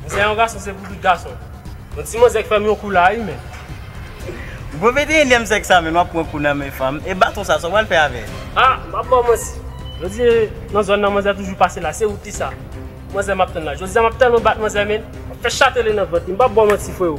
Mwen se yon gason se pou tout gason. Yon ti manzè k fèm yon kou la ui menn. Gwo vete enyèm sèk sa menn wap pran kou nan men fanm e baton sa sa pral fè avèl. Ah map baw manti jodi nan zòn nan manzè toujou pase la se ou kisa manzè map tann la jodi a map tèlman bat manzè menn map fè chatele nan vant li mpap baw manti freo.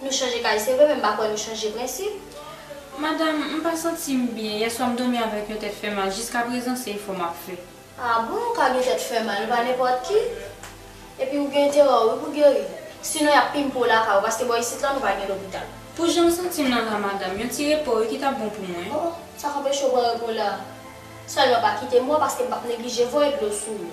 Nou chanje kay se vre men m pa kwè nou chanje prensip. Madam, m pa santi m byen. Yèswa m dòmi avèk yon tèt fè mal. Jiska prezan se efò m ap fè. Ah bon, ou ka gen tèt fè mal, nou pa nenpòt ki. Epi ou gen enterè wi pou geri. Sinon y ap pimpe w lakay ou paske bò isit lan nou pa gen lopital. Pou jan m santi m lan la madam, yon ti repo wi ki t ap bon pou mwen. Oh, sa k anpeche w pran repo la? Sèlman pa kite mò paske m p ap neglije voye dlo sou ou.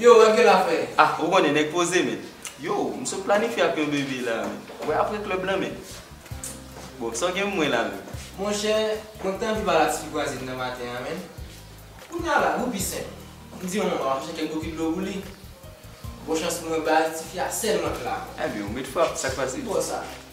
Yo wè ke la fè. Ah ou konnen nèg poze men. Yow m sot planifye ak yon bebe la men. Wè apre club lan men. Bon sa w gen pou mwen la men. Monchè mwen k t anvi pale ak tifi kwaze m nan maten an men. Kounya la wou pi senp. M di yon manman map chèche kèk bokit dlo pou li. Bon chans pou mwen baz tifi a sèlman k la. Ebyen ou met frap sak pase. Ki bò sa?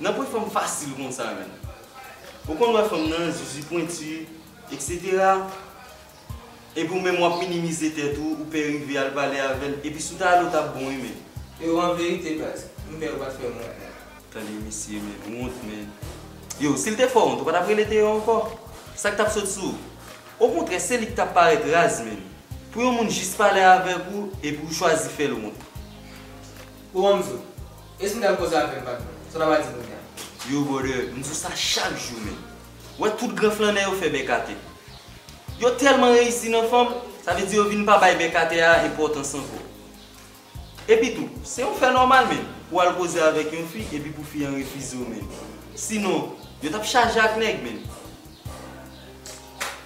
Nan pwen fanm fasil konsa menm. Ou konn wè fanm nan zuzu pwentu etc. Epi ou menm wap minimize tèt ou, ou pè rive al pale avèl, epi si w ta ale w tap bon wi men. Yo an verite baz, m pè yo pat fèm wont nan. Tande misye men wont men. Yow sil te fè wont ou pa tap rele Théo ankò? Sak tap sot sou ou? Okontrè se li ki tap parèt raz menm. Pou yon moun jis pale avèk ou epi ou chwazi fèl wont. Ou wè m di w. Eske ou dal koze avèl patron? Sa w ta pral di moun ya? Yo brother, m di w sa chak jou menm. Wè tout gran flannè yo fè bèk atè. Yo tèlman reyisi nan fanm, sa vle di yo vin pa bay bèk atè a enpòtans ankò. Epi tou, se yon fè nòmal menm pou w al koze avèk yon fi epi pou fi an refize w menm. Sinon, yo t ap chaje ak nèg menm.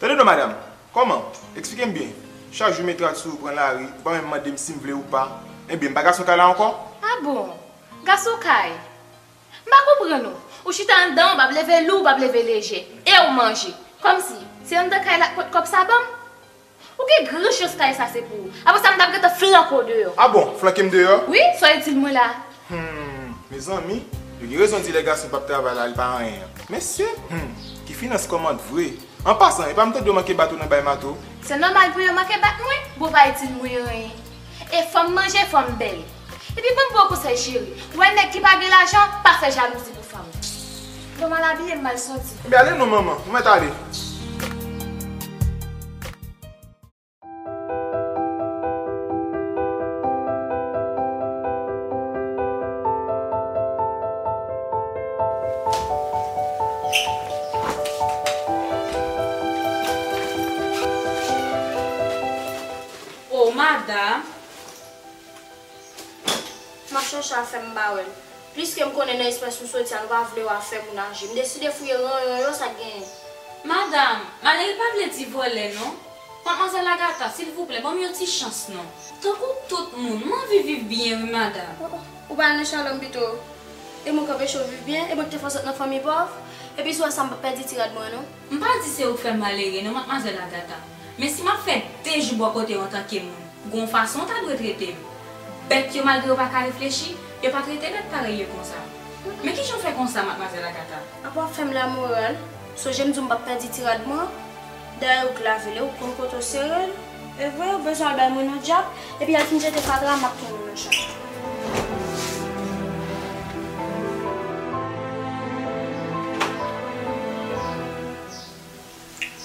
Tande non madam, kòman? Eksplike m byen. Chak jou met rad sou ou pran lari, ou pa menm mande m si m vle ou pa. Enben, m pa gason kay la ankò? A bon! Gason kay! M pa konprann ou. Ou chita anndan, ou pap leve lou, ou pap leve lejè. E ou manje. Kòmsi, se anndan kay la k pot kòb sa ban m? Ou gen gran chans kay sa se pou ou. Apre sa m tap gentan flanke w deyò. Ah bon, flanke m deyò? Wi, soyez itil mwen la. Humm mezanmi yo gen rezon di lè gason pap travay la li pa anyen an mesye humm ki finans kòmant vre an pasan epa m tande yo manke bat ou nan bay mato. Se nòmal pou yo manke bat mwen? Bon pa itil mwen anyen. E fòm manje fòm bèl. Epi banm bon konsèy cheri, wè nèg ki pa gen lajan pa fè jalouzi pou fanm. Lèw mal abiye m mal santi. Ebyen ale non manman, ou mèt ale. Oh madam. Machann chan fè m bare l. Pliske m konnen nan espres ou soti a nou pa vle w a fè moun aji. M deside fouye ranyon yo sa k genyen. Madam, male l pa vle di vòlè non. Madmwazèl Agata, silvouplè ban m yon ti chans non. Tankou tout moun, m anvi viv byen wi madam. Ou pa al nan Shalom pito. E mwen k anpeche w viv byen? E mwen k te fè w sot nan fanmi pòv? Epi si w wè sa m p ap pèdi ti rad mwen an non. M pa di se ou k fè m malere non Matmwazèl Agata, men si m ap fè de jou bò kote w antanke moun, gon w fason w ta dwe trete m. Bèt yo malgre yo pa ka reflechi, yo pa trete bèt parèy yo konsa. Men kijan w fè konsa Matmwazèl Agata? Apa w ap fè m lamoral? Sonje m di w m p ap pèdi ti rad mwen an? Dayè ou k lave li, ou konn kote w sere l. Evre yo bezwen al bay mwen non dyab epi yal fin jete fatra map tounen nan chat.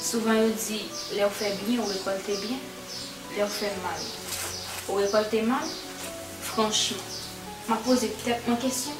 Souvan yo di lèw fè byen ou rekòlte byen lèw fè mal ou rekòlte mal franchman map poze tèt mwen kesyon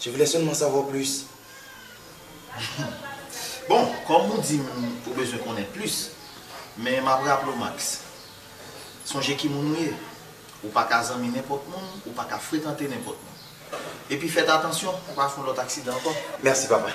Je voulais seulement savoir plus. Bon, kòm ou di m ou bezwen konnen plis, men m ap raple w Max, sonje ki moun ou ye, ou pa ka zanmi nenpòt moun, ou pa ka frekante nenpòt moun. Epi fèt atansyon pou w pa fè yon lòt aksidan ankò. Merci papa.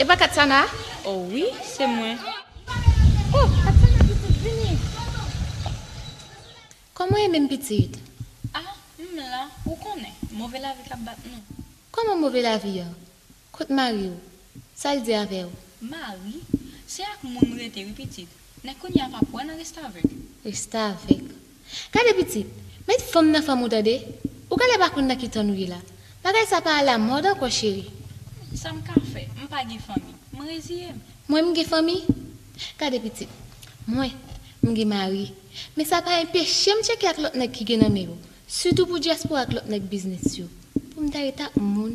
E pa katsana oh wi se mwen. Oh katsana ki fout vini. Koman ye menm pitit. Ah m la ou konnen move lavi kap bat nou. Koman move lavi an kot mariw sal di avew. Mari se ak moun m rete wi pitit men kounya pap wè nan restavèk. Restavèk. Gade pitit, met fanm nan fanm ou tande. Ou genlè pa konn nan ki tan nou ye la. Bagay sa pa ala mòd ankò cheri. Humm sa m ka fè? M pa gen fanmi. M reziye m. Mwen m gen fanmi. Gade pitit, mwen, m gen mari. Men sa pa enpeche m tcheke ak lòt nèg ki gen nan men yo. Sitou pou dyaspora ak lòt nèg biznis yo. Pou m ta ret ak moun.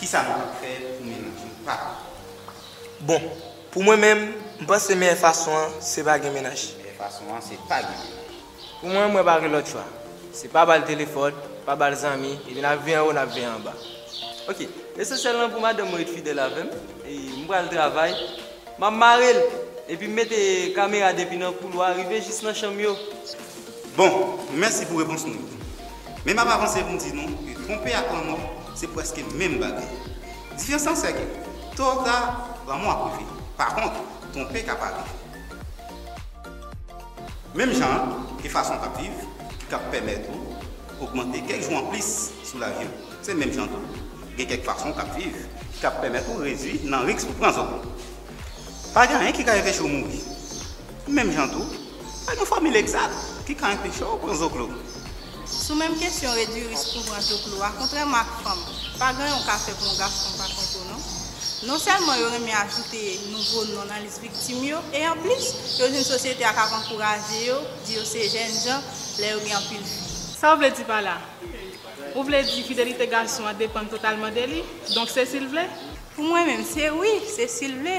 Kisa nou kab fè pou menaj nou pa pran kont nou? Bon, pou mwen menm, m panse meyè fason an, se pa gen menaj. Meyè fason an, se pa gen menaj. Pou mwen, mwen pa gen lòt chwa. Se pa ba l telefòn, pa ba l zanmi, epi n ap viv anwo, n ap viv anba. Ok, lesansyèl lan pou madanm mwen ret fidèl avè m, e m pral travay, m ap mare l, epi m mete kamera depi nan koulwa rive jis nan chanm yo. Bon, mèsi pou repons nou yo. Men m ap avanse pou m di nou ke twonpe ak lanmò se prèske menm bagay. Diferans lan se ke, to ou ta, lanmò ap rive. Pa kont, twonpe ka pa rive. Menm jan an, gen fason w ka p viv ki ka p pèmèt ou ogmante kèk jou anplis sou lavi w. Se menm jan tou, gen kèk fason w ka p viv ki ka p pèmèt ou redui nan riks pou w pran zòn. Pa gen anyen ki ka enpeche w mouri. Menm jan tou, pa gen fòmil egzat ki ka anpeche w pran zoklo. Sou menm kesyon redui risk pou pran zoklo a, kontrèman ak fanm, pa gen yon ka fè pou yon gason pa pran tou non. Non sèlman yo renmen ajoute nouvo non nan lis viktim yo, e anplis, yo jwenn sosyete a k ap ankouraje yo, di yo se jènjan lè yo gen anpil fi. Sa w vle di pa la? Ou vle di fidelite gason an depann totalman de li, donk se si l vle? Pou mwen menm, se wi, se si l vle.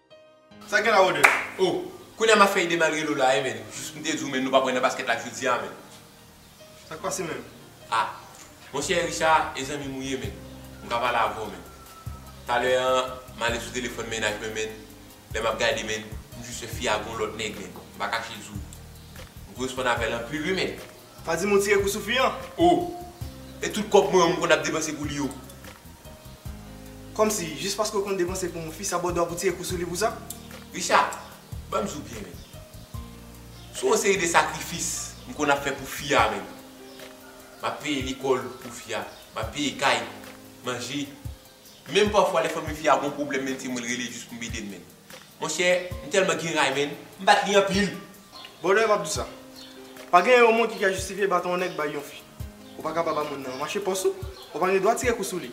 Sa gen la Rode? Oh! Kounya map fè ide malgre Lola a ye menn. Jis poum te diw menn nou pap wè nan basket la jodi a menn. Sak pase menm? Ah! Monchè Richard e zanmim ou ye menn. M ka pale avèw menn. Talè an m ale sou telefòn mennaj mwen menn, lè map gade menn, m jis wè fi a gon lòt nèg menn. M pa kache diw. M koresponn avèl anpil wi menn. Pa di m ou tire kou Soufi an? Oh! E tout kòb mwen an m konn ap depanse pou li yo? Kòmsi, jis paske ou konn depanse pou yon fi sa ba w dwa pou w tire kou sou li pou sa? Richard, ban m di w byen menm. Sou yon seri de sakrifis m konn ap fè pou fi a menm. M ap peye lekòl pou fi a, m ap peye kay, manje. Menm pafwa lè fanmi fi a gon pwoblèm menm se mwen l rele jis pou m ede l menm. Monchè, m tèlman gen ray menn, m bat li anpil! Bonè m ap di sa. Pa gen yon moun ki ka jistifye baton yon nèg bay yon fi. Ou pa ka pa ba moun nan manche pòs ou, ou pa gen dwa tire kou sou li.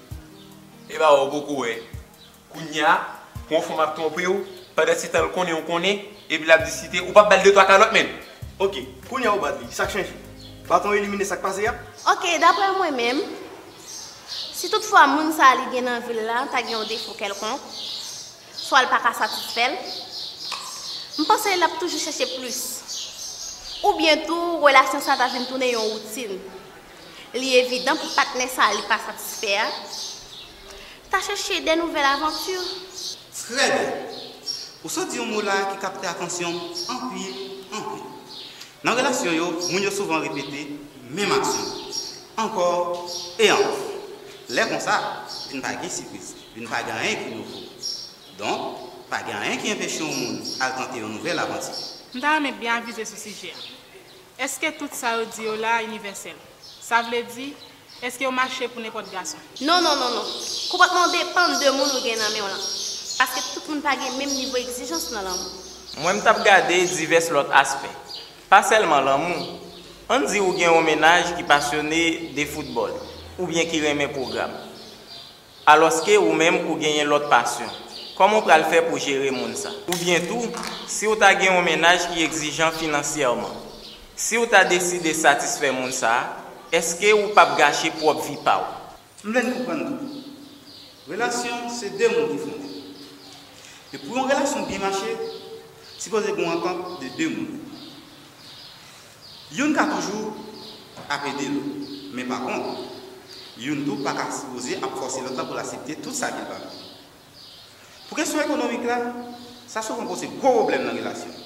E ba ou poko wè, kounya pou yon fanm ap twonpe ou, pandansetan l konnen ou konnen, epi l ap diskite, ou pa ba l de twa kalòt menm! Ok, kounya ou bat li, sa k chanje? Baton elimine sa k pase a? Ok, daprè mwen menm, si tout fwa moun sa li gen nan vi l la ta gen yon defo kèlkonk, Swa l pa ka satisfè l. M panse l ap toujou chèche plis. Oubyen tou relasyon sa ta vin tounen yon woutin. Li evidan pou patnè sa li pa satisfè a ta chèche de nouvèl avanti. Trè byen! Ou sot di yon mo la ki kapte atansyon m anpil, anpil. Nan relasyon yo, moun yo souvan repete menm aksyon ankò e ankò. Lè konsa, vin pa gen sipriz. Vin pa gen anyen ki nouvo. Donk, pa gen anyen ki enpeche yon moun al tante yon nouvèl avanti. M ta renmen byen avize sou sijè a. Èske tout sa yo di yo la a inivèsèl? Sa vle di, èske yo mache pou nenpòt gason? Non, non, non, non. Konpòtman w depann de moun ou gen nan men w lan. Paske tout moun pa gen menm nivo egzijans nan lanmou. Mwen m t ap gade divès lòt aspè. Pa sèlman lanmou. Ann di ou gen yon mennaj ki pasyone de foutbòl, oubyen ki renmen pwogram. Alòske ou menm ou genyen lòt pasyon. Kòman w pral fè pou jere moun sa? Oubyen tou, si w ta gen yon mennaj ki egzijan finansyèman, si w ta deside satisfè moun sa, èske ou p ap gache pwòp vi pa w? M vle n konprann tou, relasyon se 2 moun ki fonde. E pou yon relasyon byen mache, sipoze gen yon antant de 2 moun. Youn ka toujou ap ede l, men pa bon. Youn tou pa ka sipoze ap fòse lòt la pou l asepte tout sa ki pa bon. Pou kesyon ekonomik la, sa souvan poze gwo pwoblèm nan relasyon.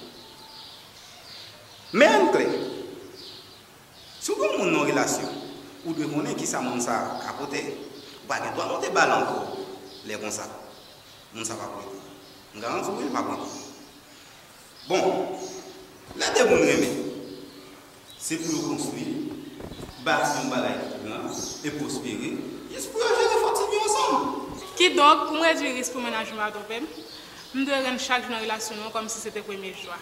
Men youn kle, si w gen yon moun nan yon relasyon, ou dwe konnen ki sa moun sa a ka pote. Ou pa gen dwa monte ba l ankò lè konsa. Moun sa a p ap rete. M garanti w wi l p ap rete. Bon, lè de moun renmen, se pou yo konstwi, bati yon bagay ki gran e pwospere, jis pou yo jere fò ti byen ansanm. Kidonk, pou m redui risk pou mennaj nou pa twonpe m, m dwe rann chak jou nan relasyon nou an kòmsi se te premye jou a.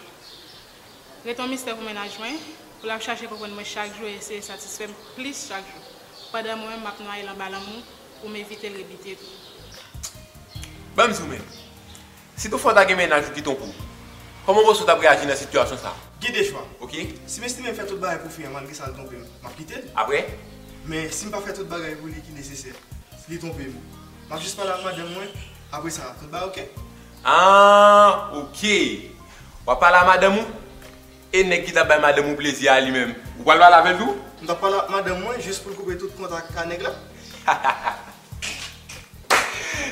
Rete yon mistè pou mennaj mwen, pou l ap chache konprann mwen chak jou e eseye satisfè m plis chak jou, pandan mwen menm m ap nwaye l anba lanmou pou m evite l rebite tou. Ban m sou men. Si toufwa w ta gen mennaj ou ki tonbe ou, kòman ou panse w t ap reyaji nan sitiyasyon sa a? Gen de chwa. Ok. Si m estime m fè tout bagay pou fi an malgre sa l tonbe m, m ap kite l. Apre? Men, si m pa fè tout bagay pou li ki nesesè, li tonbe m, m ap jis pale ak madanm mwen, apre sa, tout bagay ok? Aah ok. W ap pale ak madanm ou? E nèg ki t ap bay madanm ou plezi a li menm, ou pral pale avè l tou? M t ap pale ak madanm mwen jis pou l koupe tout kontak ak nèg la. Hahaha.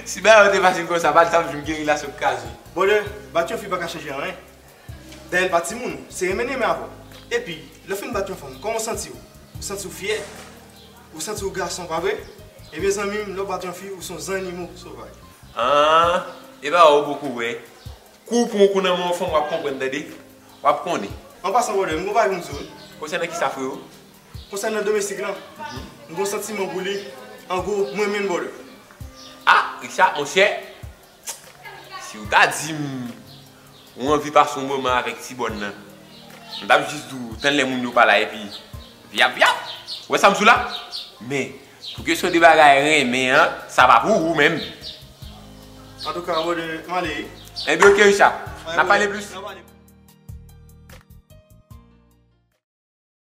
Si bagay yo te fasil konsa pa tap jwenn gerila sot kraze. Brother, bat yon fi paka chanje anyen. Dayè l pa timoun ou, se renmen li renmen avè w. Epi, lè w fin bat yon fanm, kòman w santi w? Ou santi w fyè? Ou santi w gason pa vre? Ebyen zanmi m, lè w bat yon fi, ou se yon zannimo sovaj. Aah, e pa wè ou poko wè. Kou w pran yon kou nan men yon fanm wap konprann tande. Wap konnen. An pasan brother, m gen yon bagay pou m di w. Konsènan kisa freo? Konsènan domestik lan, m gon santiman pou li, an gwo, m renmen l bolo. Ah Richard monchè, si w ta di m ou anvi pase yon moman avèk ti bòn nan, m t ap jis di w tann lè moun yo pa la epi vyap vyap, ou wè sa m sou la? Men, pou kesyon de bagay renmen an, sa pa pou ou menm. Antouka bolo, m ale wi. Enben ok Richard, n ap pale plis.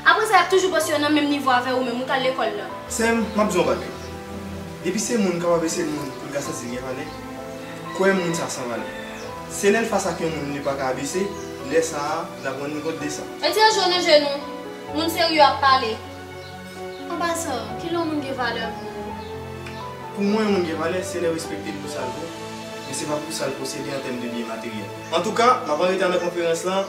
Apre sa yap toujou panse yo nan menm nivo avèw ou menm ou tal lekòl nan. Sèm, map diw yon bagay. Depi se moun kapab ese moun poul ka santi li gen valè, kwèm moun sa san valè. Se lèl fas ak yon moun li paka abese, lè sa a lap rann li kont de sa. Mete yon je nan je nou, moun serye ap pale. An pasan, kilè yon moun gen valè pou ou? Pou mwen yon moun gen valè se lèw respektel pou sal vo, men se pa pou sal posede an tèm de byen materyèl. Antouka, map anreta nan konferans lan.